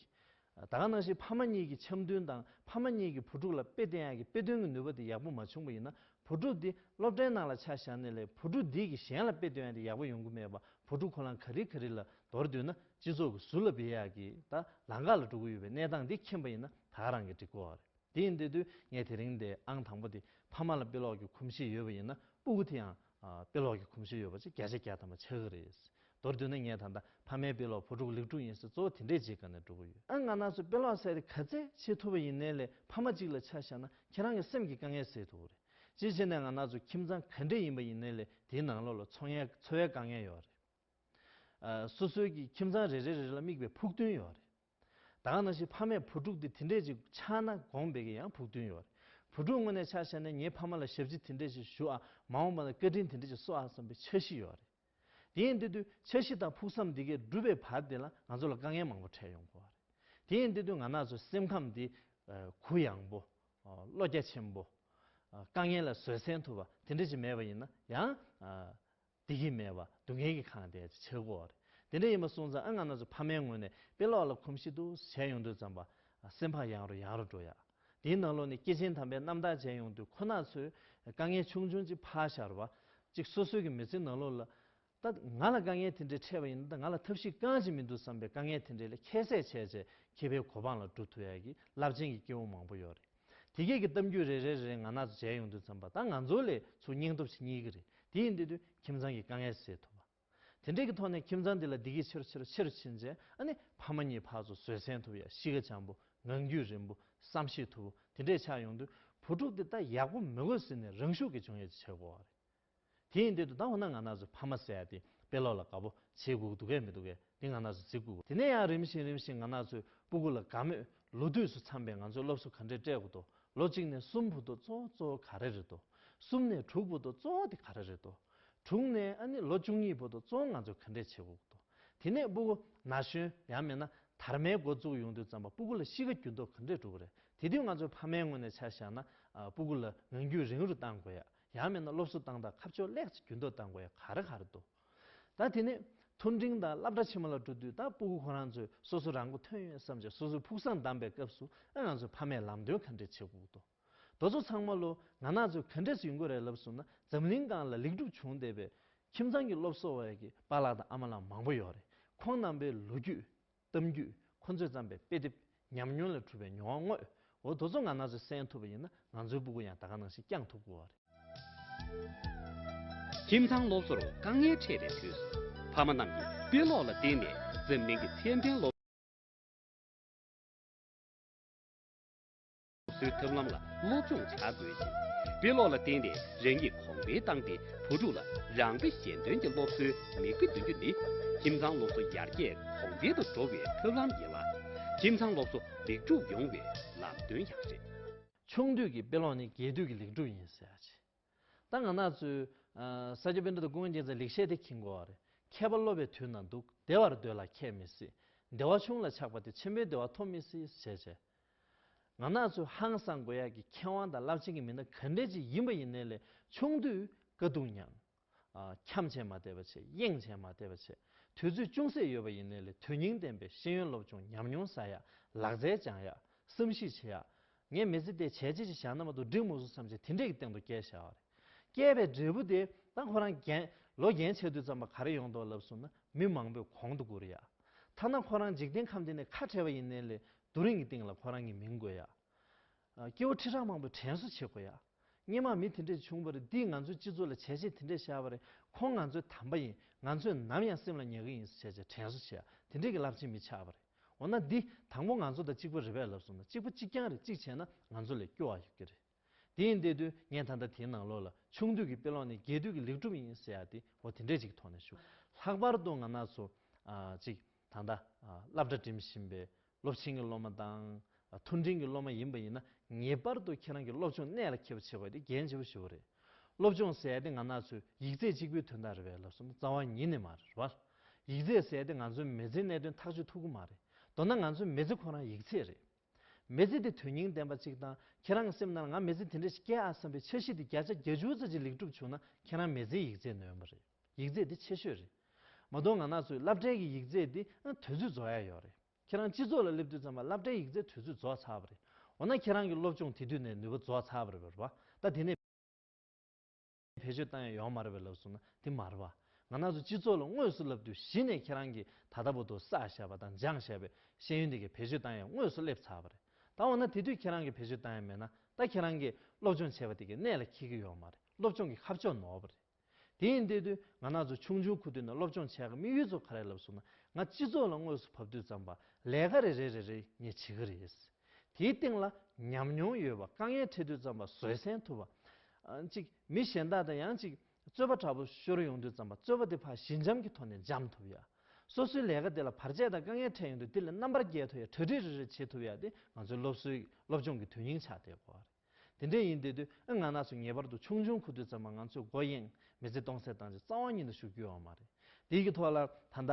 ད་ག་ནང་བཞིན་ཕ་མ་གཉིས་ཀྱི་འཆམ་མཐུན་དང་ཕ་མ་གཉིས་ཀྱི་བུ་ཕྲུག་ལ་དཔེ་བསྟན་ཡག་གི་དཔེ་སྟོན་གྱི་ནུས་པ་དེ་ཡག་པོ་མ་བྱུང་པ་ཡིན་ན་བུ་ཕྲུག་དེ་སློབ་གྲྭའི་ནང་ལ་ཆ་བཞག་ནས་ལས་བུ་ཕྲུག་འདིས་ཀྱི་གཞན་ལ་དཔེ་སྟོན་ཡག་དེ་ཡག་པོ་ཡོང་གི་མེད་པ་བུ་ཕྲུག་ཁོ་རང་ག་རིལ་ག་རིལ་ལ་འདོར་འདུག་ན་སྤྱི་ཚོགས་ཀྱི་ཟུར་ལ་བེད་ཡག་གི་ད་ལང་ཁ་ལ་འགྲོ་གི་ཡོད་པའི་གནས་སྟངས་འདི་མཁྱེན་པ་ཡིན་ན་ད་ག་རང་གི་འགྲིག་གོ་རེད་དེ་ཡིན་དེ་དུས་ངས་དེ་རིང་འདས་ཨང་དང་པོ་དེ་ཕ་མ་ལ་དཔེ་ཀློག་གི་གོམས་གཤིས་ཡོད་པ་ཡིན་ན་སྤུ་གུ་དེའང་དཔེ་ཀློག་གི་གོམས་གཤིས་ཡོད་པ་ཅིག་བརྒྱ་ཆ་བརྒྱ་དམ་པ་ཆགས་ཀྱི་རེད། མདོར་བསྡུས་ན་ངའི་ད་ལྟ་ཕ་མའི་དཔེ་ཀློག་བུ་ཕྲུག་ལེགས་གྲུབ་ཡིན་སྲིད་གཙོ་བོ་དེ་འདྲའི་ཅིག་ག་ནས་འགྲོ་གི་ཡོད། ང་ནགས་ཚོས་དཔེ་ཀློག་ཟེར་དེ་ག་ཚད་བྱེད་ཐུབ་པ་ཡིན་ནའི་ལས་ཕ་མ་ཅིག་ལ་ཆ་བཞག་ན་ཁྱེད་རང་གི་སེམས་ཀྱི་དཀའ་ངལ་སེལ་ཐུབ་རེད། སྤྱིར་བྱས་ནས་ང་ནགས་ཚོ་ཁྱིམ་ཚང་ག་འདྲའི་ཡིན་པ་ཡིན་ནའི་ལས་དེའི་ནང་ལོགས་ལ་འཚོ་ངལ་འཚོ་བའི་དཀའ་ངལ་ཡོད་རེད། སོ་སོའི་གི་ཁྱིམ་ཚང་རེ་རེ་རེ་རེ་ལ་དམིགས་པའི་ཕུགས་འདུན་ཡོད་རེད། བདག་ན་ཞིག་ཕ་མས་བུ་ཕྲུག་དེ་དེ་འདྲས་ཅིག་ཆགས་ན་དགོངས་པའི་གི་ཡང་ཕུགས་འདུན་ཡོད། བུ་ཕྲུག་དངོས་ནས་ཆགས་བྱས་ན་ངའི་ཕ་མ་ལ་ཞབས་ཕྱི་དེ་འདྲས་ཞིག་ཞུ་ཨ་མ་འོངས་པ་ན་བཀའ་དྲིན་དེ་འདྲས་ཅིག་གསོ་ཨ་བསམ་པའི་འཆར་གཞི་ཡོད་རེད། དེ་ཡིན་དེ་དུས་འཆར་གཞི་དང་ཕུགས་བསམ་འདི་གས་འགྲུབ་པའི་བར་དེ་ལ་ང་ཚོ་ལ་དཀའ་ངལ་མང་པོ་འཕྲད་ཡོང་གོ་རེད། དེ་ཡིན་དེ་དུས་ང་ནག་ཚོའི་སེམས་ཁམས་འདི། གུ་ཡངས་པོ། བློ་རྒྱ་ཆེན་པོ། དཀའ་ངལ་ལ་བཟོད་བསྲན་ཐུབ་པ་དེ་འདྲས་ཅིག་མེད་པ་ཡིན་ན་ཡང། བདེ་སྐྱིད་མེད་པར་སྡུག་བསྔལ་གྱིས་ཁངས་དེ་ཆགས་སྒོ་རེད། དེ་འདྲ་ཡིན་པ་སོང་ཙང་ཨ་ང་ན་ཚོད་ཕ་མའི་ངོས་ནས་དཔེ་ཀློག་ལ་གོམས་ཤིག་ཏུ་བྱས་ཡོང་དུས་ཙམ་པ། སེམས་ཕག་ཡངས་རུ་ཡངས་རུ་འགྲོ་ཡ། དེའི་ནང་ལོགས་ནས་སྐྱེས་ཆེན་དམ་པའི་རྣམ་དག་བྱས་ཡོང་དུས་ཁོ་ན་ཚོས་དཀའ་ངལ་ཆུང་ཆུང་ཅིག་ཕར་ཤར་བ། ཅིག་སོ་སོའི་གི་མི་ཚེའི་ནང་ལོགས་ལ། ད་ང་ལ་དཀའ་ངལ་དེ་འདྲའི་འཕྲད་པ་ཡིན་ན་ད་ང་ལ་ཐབས་ཤེས་གང་ཅིག་མི་འདུག་བསམ་པའི་དཀའ་ངལ་དེ་འདྲའི་ལས་ཁྱད་བསད་བྱས་བྱས་ཁྱི་ཕའི་གོ་འཕང་ལ་འགྲོ་ཐུབ་ཡ་གི་རླབས་ཆེན་གྱི་སྐྱེ་བོ་མང་པོ་ཡོད་རེད། དེ་སྐད་ཀྱི་གཏམ་རྒྱུད་རེ་རེ་རེ་རེ་ང་ན་ཚོ་མཇལ་ཡོང་དུས་ཙམ་པ་ད་ང་ཚོ་ལས་ཚོ་སྙིང་སྟོབས་ཆེ་གཉིས་ཀྱི་རེད་དེ་ཡིན་དུས་དུས་ཁྱིམ་ཚང་གི་དཀའ་ངལ་སེལ་ཐུབ་པ། དེ་འདྲེ་གི་ཐོག་ནས་ཁྱིམ་ཚང་འདི་ལ་བདེ་སྐྱིད་ཆེ་རུ་ཆེ་རུ་ཆེ་རུ་ཕྱིན་རྗེས་ཨ་ནི་ཕ་མ་གཉིས་ཕར་ཚོ་བཟོད་བསྲན་ཐུབ་ཡ་གཤིས་ཀ་བྱམས་པོ་ངང་རྒྱུད་རིང་པོ་བསམ་ཤེས་ཐུབ་པོ་དེ་འདྲེ་ཆགས་ཡོང་དུས་བུ་ཕྲུག་དེ་ད་ཡག་པོ་མི་དགོས་ཟེར་ནས་རང་ཤུགས་ཀྱིས་འབྱུང་ཡ་ཆེ་གོ་བ་རེད། དེ་ཡིན་དུས་དུ་ལྡང་བ་ན་ང་ན་ཟུག་ཕ་མ་ཟེར་ཡ་དེ་དཔེ་ཀློག་ལ་དགའ་པོ་བྱེད་དགོས་འདུག་གས་མི་འདུག་གས་དེ་ང་ན་ཟུག་བྱེད་དགོས་དེ་ནས་ཡང་རིམ་བཞིན་རིམ་བཞིན་ང་ན་ཟུག་སྤུ་གུ་ལ་དགའ་མོད་ལོ་དུས་སུ་འཚམས་པའི་ང་ཚོའི་སློབ་གསོ་ག་འདྲས་སྤྲད་དགོས་འདུག་ལོ་གཅིག་ནས་གསུམ་བུ་དུ་ཙོ་གཙོ་བོ་ག་རེ་རེད་འདུག་གསུམ་ནས་དྲུག་བུ་དུ་ཙོ་དེ་ག་རེ་རེད་འདུག་དྲུག་ནས་ཨ་ནི་ལོ་བཅུ་གཉིས་བུ་དུ་ཙོ་ང་ཚོས་ག་འདྲས་བྱེད་དགོས་འདུག་དེ་ནས་སྤུ་གུ་ན་གཞོན་ཡང་མེད་ན་དར་མའི་འགོ་བཙུགས་ཡོང་དུས་ཙམ་པ་སྤུ་གུ་ལ་གཤིས་ཀ་རྒྱུ་མདོག་ག་འདྲས་གྲུབ་པ་རེད་དེ་དུས་ང་ཚོའི་ཕ་མའི་ངོས་ནས་ཆ་བཞག་ན་སྤུ་གུ་ལ་ངང་རྒྱུད་རིང་རུ་གཏང་དགོས་ཡ་ཡང་མིན་ན་སློབ་གསོ་སྟངས་དང་ཁ་ཕྱོགས་སླད་ཀྱི་རྒྱུན་ཐོ་དང་བའི་གར་གར་འདུག་ད་དེ་ནས་མཐོ་འབྲིང་དང་བསླབ་གྲྭ་ཆེན་མོ་ལ་འགྲོ་དུས་ད་སྤུ་གུ་ཁོ་རང་ཚོས་སོ་སོ་རང་མགོ་ཐོན་ཡོད་བསམ་ཅིང་སོ་སོའི་ཕུགས་བསམ་བསྡམས་པའི་སྐབས་སུ་ཨ་ང་ཚོའི་ཕ་མས་ལམ་སྟོན་ག་འདྲས་བྱེད་ཁུག་ཏོ་རྡོ་ཚོ་ཚང་མ་ལོ་ང་ནག་ཚོས་ག་འདྲས་ཡོང་གི་རེད་ལབ་སོང་ན་འཛམ་གླིང་སྒང་ལ་ལེགས་འགྲུབ་བྱུང་བསྡད་པའི་ཁྱིམ་ཚང་གི་སློབ་གསོ་བ་ཡི་པ་ལགས་དང་ཨ་མ་ལགས་མང་པོ་ཡོད་རེད་ཁོང་རྣམ་པའི་ལོ་རྒྱུས་གཏམ་རྒྱུད་ཁོ་ཚོས་བརྩམས་པའི་དཔེ་དེབ་ཉམས་མྱོང་ལས་གྲུབ་པའི་མྱོང་བ་དངོས་འོ་དོ་ཚོ་ང་ན་ཚོད་གསན་ཐུབ་པ་ཡིན་ན་ང་ཚོའི་སྤུ་གུ་ཡང་ད་ག་ནང་བཞིན་བསྐྱངས་ཐུབ་དགོས་བ་རེད། ཁྱིམ་ཚང་སློབ་གསོར་དཀའ་ངལ་འཕྲད་པའི་དུས་སུ་ཕ་མ་རྣམས་ཀྱིས་དཔེ་ཀློག་ལ་བརྟེན་ནས་འཛམ་གླིང་གི་ཚད་ལྡན་སློབ་སོའི་ཐབས་ལམ་ལ་སློབ་སྦྱོང་བྱ་དགོས་ཤིང། དཔེ་ཀློག་ལ་བརྟེན་ནས་རང་ཉིད་གོང་འཕེལ་བཏང་སྟེ་བུ་ཕྲུག་ལ་རང་དཔེ་གཞན་སྟོན་གྱི་སློབ་གསོའི་མིག་དཔེ་འདོན་རྒྱུ་ནི། ཁྱིམ་ཚང་སློབ་གསོ་ཡར་རྒྱས་གོང་འཕེལ་དུ་འགྲོ་བའི་ཐབས་ལམ་ཡིན་ལ། ཁྱིམ་ཚང་སློབ་གསོ་ལེགས་འགྲུབ་ཡོང་བའི་ལམ་སྟོན་ཡང་རེད། ཆུང་དུས་ཀྱི་དཔེ་ཀློག་ནི་རྒས་དུས་ཀྱི་ལེགས་འགྲུབ་ཡིན་ཟེར་ཡག་ཆེ། ད་ང་ནག་ཚོའི། ས་སྐྱ་དཔེ་འདྲ་དང་སྐུ་ངལ་འགྱེད་ཚ་ལེགས་བཤད་དེ་གྱིན་གོ་བ་རེད། མཁས་པ་སློབ་པའི་དུས་ན་འདུག་བདེ་བར་སྡོད་ལ་ཁྱད་མི་སྲིད། བདེ་བ་ཆུང་ལ་ཆགས་པ་དེ་ཆེན་པོའི་བདེ་བ་ཐོབ་མི་སྲིད་ཟེར་བྱས། ང་ནག་ཚོའི་ཧང་སང་དགོས་ཡག་གི་མཁས་དབང་དང་རླབས་ཆེན་གྱི་མི་སྣ་ག་འདྲས་ཅིག་ཡིན་པ་ཡིན་ནའི་ལས་ཆུང་དུས་དཀའ་སྡུག་མྱངས། འཁྱམ་བྱས་མ་བསྡད་པ་བྱས་གཡེང་བྱས་མ་བསྡད་པ་བྱས་དུས་ཚོད་ཅུང་ཟད་ཡོད་པ་ཡིན་ནའི་ལས་དོན་སྙིང་ལྡན་པའི་ཤེས་ཡོན་སློབ་སྦྱོང་ཉམས་མྱོང་ཟ་ཡག་ལག་རྩལ་སྦྱང་ཡག་བསམ་གཞིག་བྱེད་ཡག་ངས་མི་ཚེ་དེ་བྱས་རྗེས་ཀྱི་ཞྭ་ནུ་མ་དུ་སྒྲིག་མུ་ཟུག་ཙམ་གྱིས་དེ་འདྲེ་ཡི་སྟེང་དུ་བསྐྱལ་བཞག་པ་རེད། བསྐྱལ་པའི་འབྲས་བུ་དེ་ད་ཁོ་རང་རྒན། ལོ་རྒན་ཆགས་དུས་ཙམ་པ་ག་རེ་ཡོང་འདོད་ལབ་སོང་ན་མི་མང་པོས་གོང་དུ་བཀུར་ཡ། ཐ་ན་ཁོ་རང་འཇིག་རྟེན་ཁམས་འདི་ནས་ཁ་བྲལ་བ་ཡིན་ནའི་ལས་སྡུག་རིང་གི་སྟེང་ལ་ཁོ་རང་གི་མིང་འགོད་ཡ། སྐྱེ་བོ་ཁྲི་ཕྲག་མང་པོས་དྲན་གསོ་བྱེད་དགོས་ཡ། སྙེ་མ་མི་དེ་འདྲས་བྱུང་བ་རེད་འདིས་ང་ཚོའི་སྤྱི་ཚོགས་ལ་བྱས་རྗེས་དེ་འདྲས་བཞག་པ་རེད་ཁོང་ང་ཚོའི་དམ་པ་ཡིན་ང་ཚོས་ནམ་ཡང་སེམས་ལ་ཉག་གི་ཡིན་བྱས་རྗེས་དྲན་གསོ་བྱེད་ཡ་དེ་འདྲས་ཀྱི་རླབས་ཆེན་མི་ཆགས་པ་རེད། འོ་ན་འདི་དང་པོ་ང་ཚོ་དང་གཅིག་པོ་རེད་བས་ལབ་སོང་ན་གཅིག་པོ་གཅིག་རྐྱང་རེད་གཅིག་བྱས་ན་ང་ཚོ་ལས་སྐྱོ་བ་ཡོད་ཀྱི་རེད། དེ་ཡིན་དེ་དུས་ངས་ད་ལྟ་དེའི་ནང་ལོགས་ལ་ཆུང་དུས་ཀྱི་དཔེ་ཀློག་ནི་རྒྱས་དུས་ཀྱི་ལེགས་གྲུབ་ཡིན་ཟེར་ཡག་དེ་འོ་དེ་འདྲས་ཅིག་གི་ཐོག་ནས་ཞུ། ལྷག་པར་དུ་ང་ནག་ཚོ་ཅིག་ད་ལྟ་སླབ་གྲ་འགྲིམ་བཞིན་པའི་སློབ་ཆེན་གྱི་སློབ་མ་དང་མཐོ་འབྲིང་གི་སློབ་མ་ཡིན་པ་ཡིན་ན་ངེས་པར་དུ་ཁྱེད་རང་གི་སློབ་སྦྱོང་གནད་ལ་འཁེལ་བ་བྱེད་པ་དེ་འགན་ལྕི་པོ་ཞིག་རེད། སློབ་སྦྱོང་ཟེར་ཏེ་ང་ནག་ཚོས་ཡིག་རྩེག་གཅིག་པུའི་དོན་དག་རེད་བས་ལབ་སོང་ན་རྩ་བ་ཉིད་ནས་མ་རེད་རེད་བ། ཡིག་རྩེག་ཟེར་ཏེ་ང་ཚོའི་མེ་ཚེའི་གནད་དོན་ཐག་གཅོད་ཐུབ་གི་མ་རེད། མདོར་ན་ང་ཚོའི་མེ་ཚེ་ཁོ་རང་ཡིག་རྩེག་རེད། མེ་ཚེ་དེ་དོན་སྙིང་ལྡན་པ་གཅིག་དང་ཁྱེད་རང་གི་སེམས་ནང་ལ་ང་མེ་ཚེ་དེ་འདྲ་ཞིག་སྐྱེ་ཨ་བསམ་པའི་འཆར་གཞི་དེ་བརྒྱ་ཆ་བརྒྱ་བཅུ་རྩ་གཅིག་ལེགས་གྲུབ་བྱུང་ན་ཁྱེད་རང་མེ་ཚེའི་ཡིག་རྩེག་ནོན་པ་རེད། ཡིག་རྩེག་དེ་ཆེ་ཤོས་རེད། མ་གཏོགས་ང་ནག་ཚོའི་བསླབ་གྲྭའི་གི་ཡིག་རྩེག་དེ་དུས་ཚོད་རྫོགས་ཡ་ཡོད་རེད། ཁྱེད་རང་སྤྱི་ཚོགས་ལ་སླེབས་དུས་ཙམ་ལ་སླབ་གྲྭའི་ཡིག་རྩལ་དུས་ཚོད་རྫོགས་ཚར་བ་རེད། འོ་ན་ཁྱེད་རང་གི་སློབ་སྦྱོང་དེ་དུས་ནས་ནུས་པ་རྫོགས་ཚར་བ་རེད་བར་བ། ད་དེ་ནས་བེད་སྤྱོད་བཏང་ཡང་ཡོང་མ་རེད་བ་ལབ་སོང་ན་དེ་མ་རེད་བ། ང་ནགས་ཚོ་སྤྱི་ཚོགས་ལ་དངོས་སུ་སླབས་དུས་གཞི་ནས་ཁྱེད་རང་གི་ད་ལྟ་བུ་དུ་བསགས་བཞག་པ་དང་སྦྱངས་བཞག་པའི་ཤེས་ཡོན་དེ་གས་བེད་སྤྱོད་བཏང་ཡང་དངོས་སུ་སླེབས་ཚར་བ་རེད། ད་འོ་ན་དེ་དུས་ཁྱེད་རང་གི་བེད་སྤྱོད་བཏང་ཡང་མེད་ན་ད་ཁྱེད་རང་གི་སློབ་སྦྱོང་བྱས་པ་དེ་གས་གནད་ལ་འཁེལ་གི་ཡོད་མ་རེད་སློབ་སྦྱོང་གི་ཁ་ཕྱོགས་ནོར་བ་རེད། དེ་ཡིན་དེ་དུས་ང་ནག་ཚོ་ཆུང་ཆུང་ཁུ་དུས་ནས་སློབ་སྦྱོང་བྱས་ག་དམིགས་ཡུལ་ཚོ་ག་རེད་ལབ་སོང་ན་ང་སྤྱི་ཚོགས་ལ་དངོས་སུ་བབ་དུས་ཙམ་པ་ལས་ག་རེ་རེད་རེད་རེད་ངས་བྱེད་གི་རེད། དེའི་སྟེང་ལ་ཉམས་མྱོང་ཡོད་པ་དཀའ་ངལ་འཕྲད་དུས་ཙམ་པ་བཟོད་བསྲན་ཐུབ་པ། ཅིག་མི་གཞན་དག་དང་ཡང་ཅིག་རྩོད་པ་དྲག་པོ་ཤོར་ཡོང་དུས་ཙམ་པ་རྩོད་པ་དེ་ཕ་ཞི་འཇམ་གྱི་ཐོག་ནས་འཇམ་ཐུབ་ཡ། སོ་སོའི་ལས་ཀ་དེ་ལ་བར་ཆད་དང་དཀའ་ངལ་འཕྲད་ཡོང་དུས་དེ་ལས་རྣམ་པར་རྒྱལ་ཐུབ་ཡ་གྲ་སྒྲིག་རེ་རེ་བྱེད་ཐུབ་ཡ་དེ་ང་ཚོའི་སློབ་གསོའི་སློབ་སྦྱོང་གི་དོན་སྙིང་ཆགས་བསྡད་གོ་རེད། དེ་འདྲས་ཡིན་དེ་དུས་ཨི་ང་ན་སུ་ངེས་པར་དུ་ཆུང་ཆུང་ཁུ་དུས་ཙམ་མ་ང་ཚོས་སྒོ་གཡེང་མི་ཚེ་སྟོང་ཟད་བཏང་རྗེས་རྩ་བ་ཉིད་དུ་ཞུགས་རྒྱུ་ཡོང་བ་མ་རེད། དེའི་གི་ཐོག་ལ་ད་ལྟ་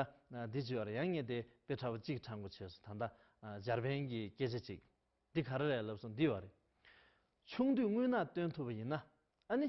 འདི་བྱིས་བར་ཡང་ངེས་དེ་དཔེ་ཁྲ་བོ་གཅིག་ཁྲ་མགོ་བྱས་སོ་ད་ལྟ་འཇར་པན་གྱི་སྐད་ཆ་གཅིག་འདི་ག་རེ་རེད་ལབ་སོང་འདི་བ་རེད། ཆུང་དུས་དངུལ་ནག་སྟོན་ཐུབ་པ་ཡིན་ན་ཨ་ནི།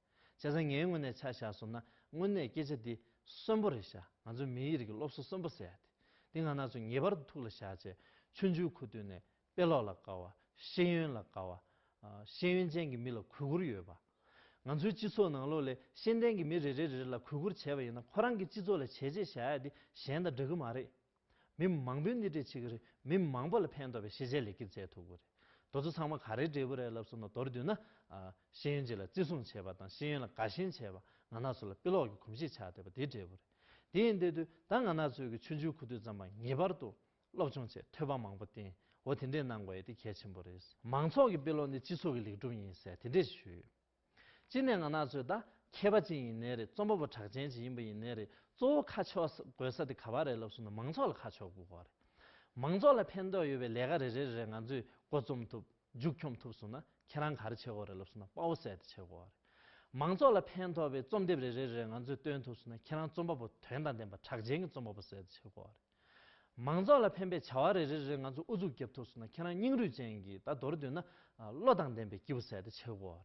བྱས་ཙང་ངའི་དངོས་གནས་ཆ་བཞག་སོང་ན་དངོས་གནས་སྐད་ཆ་འདི་གསོན་པོ་རེད་ཤག་ང་ཚོའི་མིའི་རིགས་ཀྱི་སློབ་གསོ་གསོན་པོ་ཟེར་ཡག་དེ་འདི་ང་ནག་ཚོས་ངེས་པར་དུ་ཐུགས་ལ་བཞག་ཆེད་ཆུ་འཇུག་ཁུག་བཏུས་ནས་དཔེ་ཀློག་ལ་དགའ་བ་ཤེས་ཡོན་ལ་དགའ་བ། ཤེས་ཡོན་ཅན་གྱི་མི་ལ་གུས་བཀུར་ཡོད་པ། ང་ཚོའི་སྤྱི་ཚོགས་ནང་ལོ་ལེགས་ཤེས་ལྡན་གྱི་མི་རེ་རེ་རེ་རེ་ལ་གུས་བཀུར་བྱས་པ་ཡིན་ན་ཁོ་རང་གི་སྤྱི་ཚོགས་ལ་བྱས་རྗེས་བཞག་ཡག་དེ་གཞན་དང་འདྲ་གི་མ་རེད། མི་མང་པོའི་སྣེ་ཁྲིད་བྱེད་ཀྱི་རེད་མི་མང་པོ་ལ་ཕན་འདོགས་པའི་ཤེས་བྱའི་ལེགས་སྐྱེས་བསྩལ་ཐུབ་དགོས་རེད། དོ་ཚོ་ཚང་མ་ག་རེའི་འབྲས་བུ་རེད་ལབ་སོང་ན་མདོར་བསྡུས་ན། ཤེས་ཡོན་ཅིག་ལ་བརྩི་སྲུང་བྱེད་པ་དང་ཤེས་ཡོན་ལ་དགའ་ཞེན་བྱེད་པ་ང་ནག་ཚོ་ལ་དཔེ་ཀློག་གི་གོམས་གཤིས་ཆགས་བསྡད་པ་དེའི་འབྲས་བུ་རེད། དེ་ཡིན་དེ་དུས་ད་ང་ནག་ཚོས་ཀྱི་ཆུ་འཇུའི་ཁུ་རྡུལ་ཙམ་པ་ངེས་པར་དུ་སློབ་སྦྱོང་ཆེད་ཐོད་པ་མང་པོ་བསྟེན་འོ་དེ་འདྲས་གནང་དགོས་ཡོད་དེ་གལ་ཆེན་པོ་རེད། མང་ཚོགས་ཀྱི་དཔེ་ཀློག་ནི་སྤྱི་ཚོགས་ཀྱི་ལེགས་གྲུབ་ཡིན་ཟེར་དེ་འདྲས་ཞུས་ཡོད། གཅིག་ནས་ང་ནག་ཚོས་ད་མཁས་པ་ཅིག་ཡིན་ནའི་རེད་རྩོམ་པ་པོ་གྲགས་ཅན་ཅིག་ཡིན་པ་ཡིན་ནའི་རེད་གཙོ་བོ་ཁ་ཕྱོགས་དགོས་ས་དེ་ག་བ་རེད་ལབ་སོང་ན་མང་ཚོགས་ལ་ཁ་ཕྱོགས་དགོས་ཀ་རེད། མང་ཚོགས་ལ་ཕན་ཐོགས་ཡོད་པའི་ལས་ཀ་རེ་རེ་རེ་རེ་ང་ཚོས་མགོ་རྩོམ་ཐུབ་མཇུག་འཁྱོངས་ཐུབ་སོང་ན་ཁྱེད་རང་ག་རེ་བྱེད་དགོས་རེད་ལབ་སོང་ན་དཔའ་བོ་གསལ་དེ་བྱེད་དགོས་ཀ་རེད། མང་ཚོགས་ལ་ཕན་ཐོགས་པའི་རྩོམ་དེབ་རེ་རེ་རེ་རེ་ང་ཚོས་བཏོན་ཐུབ་སོང་ན་ཁྱེད་རང་རྩོམ་པ་པོ་དོན་དང་ལྡན་པ་གྲགས་ཅན་གྱི་རྩོམ་པ་པོ་གསལ་དེ་བྱེད་དགོས་ཀ་རེད། མང་ཚོགས་ལ་ཕན་པའི་བྱ་བ་རེ་རེ་རེ་ང་ཚོས་ཨུ་ཚུགས་བརྒྱབ་ཐུབ་སོང་ན་ཁྱེད་རང་སྙིང་རུས་ཅན་གྱི་ད་མདོར་བསྡུས་ན་བློ་དང་ལྡན་པའི་སྐྱེས་བུ་ཟད་དེ་ཆེ་དགོས་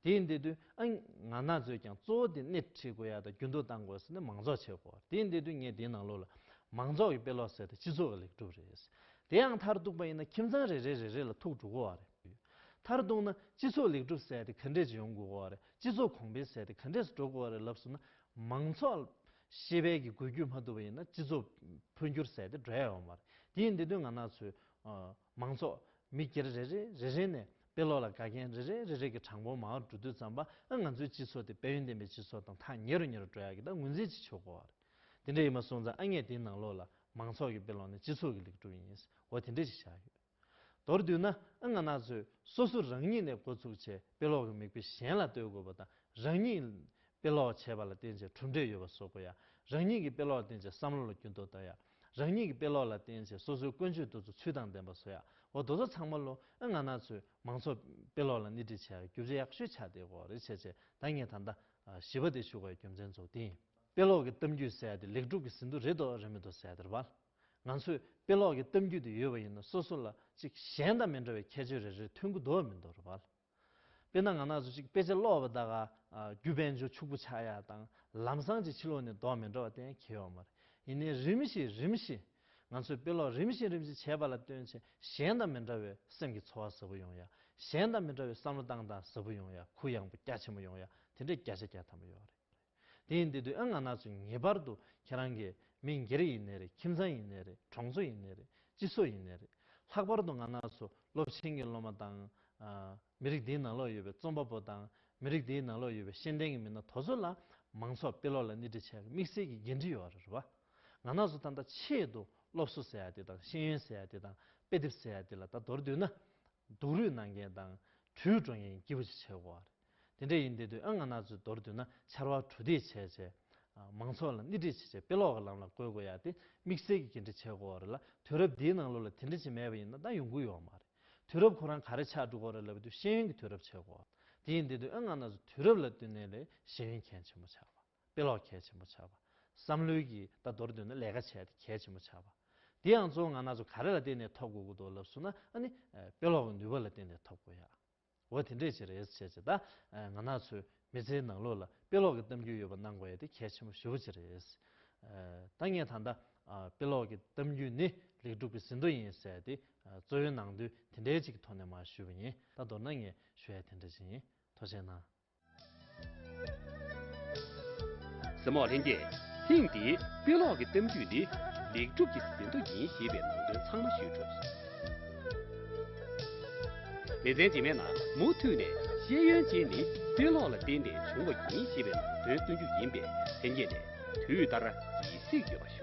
བ་རེད། དེའི་འདི་དུས་ཨ་ང་ན་ཚོས་ཀྱང་གཙོ་བོ་དེ་སྣེ་ཁྲིད་དགོས་ཡ་ད་རྒྱུན་དུ་བཏང་དགོས་ཟེར་ནས་མང་ཚོགས་ཆེ་དགོས་བ་རེད་དེའི་འདི་དུས་ངས་དེའི་ནང་ལོགས་ལ་མང་ཚོགས་ཀྱི་དཔེ་ཀློག་ཟེར་ཏེ་སྤྱི་ཚོགས་ཀྱི་ལེགས་གྲུབ་རེད་ཟེར་དེ་ཡང་མཐར་གཏུགས་པ་ཡིན་ན་ཁྱིམ་ཚང་རེ་རེ་རེ་རེ་ལ་ཐུག་འགྲོ་དགོས་བ་རེད། མཐར་གཏུགས་ན་སྤྱི་ཚོགས་ལེགས་གྲུབ་ཟད་དེ་ག་འདྲས་ཀྱི་ཡོང་དགོས་བ་རེད་སྤྱི་ཚོགས་གོང་འཕེལ་ཟད་དེ་ག་འདྲས་སུ་འགྲོ་དགོས་བ་རེད་ལབ་སོང་ན་མང་ཚོགས་ཤེས་དཔལ་གྱི་འགུལ་སྐྱོད་མ་བསྡུ་བ་ཡིན་ན་སྤྱི་ཚོགས་འཕོ་འགྱུར་ཟད་དེ་འགྲོ་ཡ་ཡོང་མ་རེད། དེ་ཡིན་དེ་དོན་ང་ནག་ཚོའི། མང་ཚོགས། མི་སྒེར་རེ་རེ་རེ་རེ་ནས་དཔེ་ཀློག་ལ་དགའ་མཁན་རེ་རེ་རེ་རེ་གི་དྲང་པོ་མའོ་འགྲོ་དུས་ཙམ་པ་ཨ་ང་ཚོའི་སྤྱི་ཚོགས་དེ་དཔལ་ཡོན་ལྡན་པའི་སྤྱི་ཚོགས་དང་ཐག་ཉེ་རུ་ཉེ་རུ་འགྲོ་ཡ་གི་ད་ངོས་འཛིན་བྱེད་ཆོག་གོ་ཨ་རེད། དེ་འདྲ་ཡིན་པ་སོང་ཙང་ཨ་ངས་དེའི་ནང་ལོགས་ལ་མང་ཚོགས་ཀྱི་དཔེ་ཀློག་ནི་སྤྱི་ཚོགས་ཀྱི་ལེགས་གྲུབ་ཡིན་འོ་དེ་འདྲ་ཞིག་བཞག་ཡོད། མདོར་བསྡུས་ན་ཨང་ན་ཚོས་སོ་སོ་རང་ཉིད་ནས་འགོ་ཚུགས་བྱས་དཔེ་ཀློག་གི་མིག་དཔེ་གཞན་ལ་ལྟོས་དགོས་པ་དང་རང་ཉིད་དཔེ་ཀློག་བྱས་པ་ལ་བརྟེན་བྱས་གྲུབ་འབྲས་ཡོད་པ་བཟོ་དགོས་ཡ། རང་ཉིད་ཀྱི་དཔེ་ཀློག་བརྟེན་བྱས་བསམ་བློ་ལ་འགྱུར་ལྡོག་གཏོང་ཡ། རང་ཉིད་ཀྱི་དཔེ་ཀློག་ལ་བརྟེན་བྱས་སོ་སོའི་ཀུན་སྤྱོད་འདུ་ཚོ་ཚུལ་དང་ལྡན་པ་བཟོ་ཡ། འོ་དོ་ཚོ་ཚང་མ་ལོ་ཨང་ན་ཚོས་མང་ཚོགས་དཔེ་ཀློག་ལ་སྣེ་ཁྲིད་བྱས་ཡ་རྒྱུ་རྫས་ཡག་ཤོས་ཆགས་དེ་གོ་རེ་བྱས་བྱས་ད་ངས་ད་ལྟ་བཞི་པ་དེ་བཞུགས་པའི་རྒྱུ་མཚན་རྫོགས་དེ་ཡིན། དཔེ་ཀློག་གི་གཏམ་རྒྱུད་གསལ་ཏེ་ལེགས་གྲུབ་ཀྱི་ཟིན་ཐོ་རེད་དོ་རེད་མི་དོ་གསལ་དེར་བལ། ང་ཚོས་དཔེ་ཀློག་གི་གཏམ་རྒྱུད་དུ་ཡོད་པ་ཡིན་ན་སོ་སོ་ལ་ཅིག་གཞན་དང་མི་འདྲ་བའི་ཁྱད་ཆོས་རེ་རེ་མཐུན་གྱི་འདུག་མི་འདུག་རེད་བལ། དཔེར་ན་ང་ནགས་ཚོ་ཅིག་དཔེ་ཆ་ཀློག་པ་དག་ག་རྒྱུ་དཔལ་འབྱོར་ཕྱུག་པོ་ཆགས་ཡ་དང་ལམ་སང་ཅིག་ཕྱི་ལོག་ནས་ལྡོག་མི་འགྲོ་བ་དེ་ཡང་ཁེལ་ཡོང་མ་རེད་ཡིན་ནའི་རིམ་བཞིན་རིམ་བཞིན་ང་ཚོས་དཔེ་ཀློག་རིམ་བཞིན་རིམ་བཞིན་བྱས་པ་ལ་ལྟོས་ཆེ་གཞན་དང་མི་འདྲ་བའི་སེམས་ཀྱི་འཚོ་བ་ཟབ་པོ་ཡོང་ཡ་གཞན་དང་མི་འདྲ་བའི་བསམ་བློ་བཏང་སྟངས་ཟབ་པོ་ཡོང་ཡ་གུ་ཡངས་པོ་རྒྱ་ཆེན་པོ་ཡོང་ཡ་དེ་འདྲའི་བརྒྱ་ཆ་བརྒྱ་ཐམ་པོ་ཡོད་རེད། དེས་འདི་དུས་ཨ་ང་ན་ཚོས་ངེས་པར་དུ་ཁྱེད་རང་གི་མི་སྒེར་ཡིན་ནི་རེད་ཁྱིམ་ཚང་ཡིན་ནི་རེད་གྲོང་ཚོ་ཡིན་ནི་རེད་སྤྱི་ཚོགས་ཡིན་ནི་རེད་ལྷག་པར་དུ་ང་ན་ཚོ་སློབ་ཆེན་གྱི་སློབ་མ་དང། མི་རིགས་འདིའི་ནང་ལོགས་ཡོད་པའི་རྩོམ་པ་པོ་དང་མི་རིགས་འདིའི་ནང་ལོགས་ཡོད་པའི་ཤེས་ལྡན་གྱི་མི་སྣ་དོ་ཚོ་ལ་མང་ཚོགས་དཔེ་ཀློག་ལ་སྣེ་ཁྲིད་བྱས་པའི་དམིགས་བསལ་གྱི་འགན་འཁྲི་ཡོད་རེད་བ། ང་ན་ཚོ་ད་ལྟ་ཆེད་དུ་སློབ་གསོ་ཟེར་ཡ་དེ་དང་ཤེས་ཡོན་ཟེར་ཡ་དེ་དང་དཔེ་དེབ་ཟེར་ཡ་དེ་ལ་ད་དོར་དུས་ན་སྡུག་རུས་གནང་མཁན་དང་གྲུའི་སྒྲོན་མཁན་སྐྱིད་པོ་ཅིག་བྱེད་དགོས་བ་རེད། དེ་འདྲ་ཡིན་དུས་དུས་ཨང་ང་ནག་ཚོའི་མདོར་བསྡུས་ན་ཕྱར་བ་གྲུ་འདེགས་བྱས་རྗེས། མང་ཚོགས་ལ་སྣེ་ཁྲིད་བྱེད་ཆེད་དཔེ་ཀློག་གི་ལམ་ལ་བཀོལ་དགོས་ཡ་དེ་དམིགས་བསལ་གྱི་འགན་འཁྲི་བྱེད་དགོས་བ་རེད་ལ་དུས་རབས་འདིའི་ནང་ལོ་ལ་དེ་འདྲ་ཅིག་མེད་པ་ཡིན་ན་ད་ཡོང་གི་ཡོད་མ་རེད། དུས་རབས་ཁོ་རང་ག་རེ་ཆགས་འགྲོ་གི་རེད་ལབ་དུས་ཤེས་ཡོན་གྱི་དུས་རབས་བྱེད་དགོས་བ་དེ་ཡིན་དུས་དུས་ཨང་ང་ནག་ཚོའི་དུས་རབས་ལ་བསྟུན་ནས་ལས་ཤེས་ཡོན་མཁན་ཆེན་མོ་ཆགས་པ། དཔེ་ཀློག་གལ་ཆེན་པོ་བྱ་བ། བསམ་བློའི་གྱི་ད་མདོར་བསྡུས་ན་ལས་ཀ་བྱས་ཏེ་གལ་ཆེན་པོ་བྱ་བ། དེ་ཡང་གཙོ་བོ་ང་ན་ཚོ་ག་རེ་ལ་བརྟེན་ནས་འཐོབ་དགོས་ཀྱི་འདུག་ལབ་སུ་ན་ཨ་ནི་དཔེ་ཀློག་གི་ནུས་པ་ལ་བརྟེན་ནས་འཐོབ་དགོས་ཡ། འོ་དེ་འདྲས་བྱེད་རེས་བྱས་བྱས་ད་ང་ན་ཚོས་མི་ཚེའི་ནང་ལོག་ལ་དཔེ་ཀློག་གི་གཏམ་རྒྱུད་ཡོད་པ་གནང་དགོས་ཡ་དེ་གལ་ཆེན་པོ་ཞུ་བོ་བྱེད་རེས། ད་ངས་ད་ད་དཔེ་ཀློག་གི་གཏམ་རྒྱུད་ནི་ལེགས་གྲུབ་ཀྱི་ཟིན་ཐོ་ཡིན་ཟེར་ཏེ་གཙོ་བོའི་ནང་དོན་དེ་འདྲས་ཅིག་གི་ཐོག་ནས་མ་ཞུ་བ་ཡིན་ད་མདོར་ན་ངས་ཞུ་ཡ་དེ་འདྲས་ཅིག་ཡིན་ཐོ་ཆེན་ནང་ཟེར་མོག་ལྷན་རྒྱས་ཐེངས་འདིའི་དཔེ་ཀློག་གི་གཏམ་རྒྱུད་ནི་ལེགས་གྲུབ་ཀྱི་ཟིན་ཐོ་ཡིན་ཞེས་པའི་ནང་དོན་ཚང་མ་ཤེས་ཐུབ། ལེ་ཚན་རྗེས་མའི་ནང་མུ་མཐུད་ནས་ཤེས་ཡོན་ཅན་ནི་དཔེ་ཀློག་ལ་བརྟེན་ནས་བྱུང་བ་ཡིན་ཞེས་པའི་ནང་དོན་སྟོན་རྒྱུ་ཡིན་པས་ལྷན་རྒྱས་ནས་དུས་ལྟར་ཡིད་གཟིགས་ཡོད་པ་ཞུ།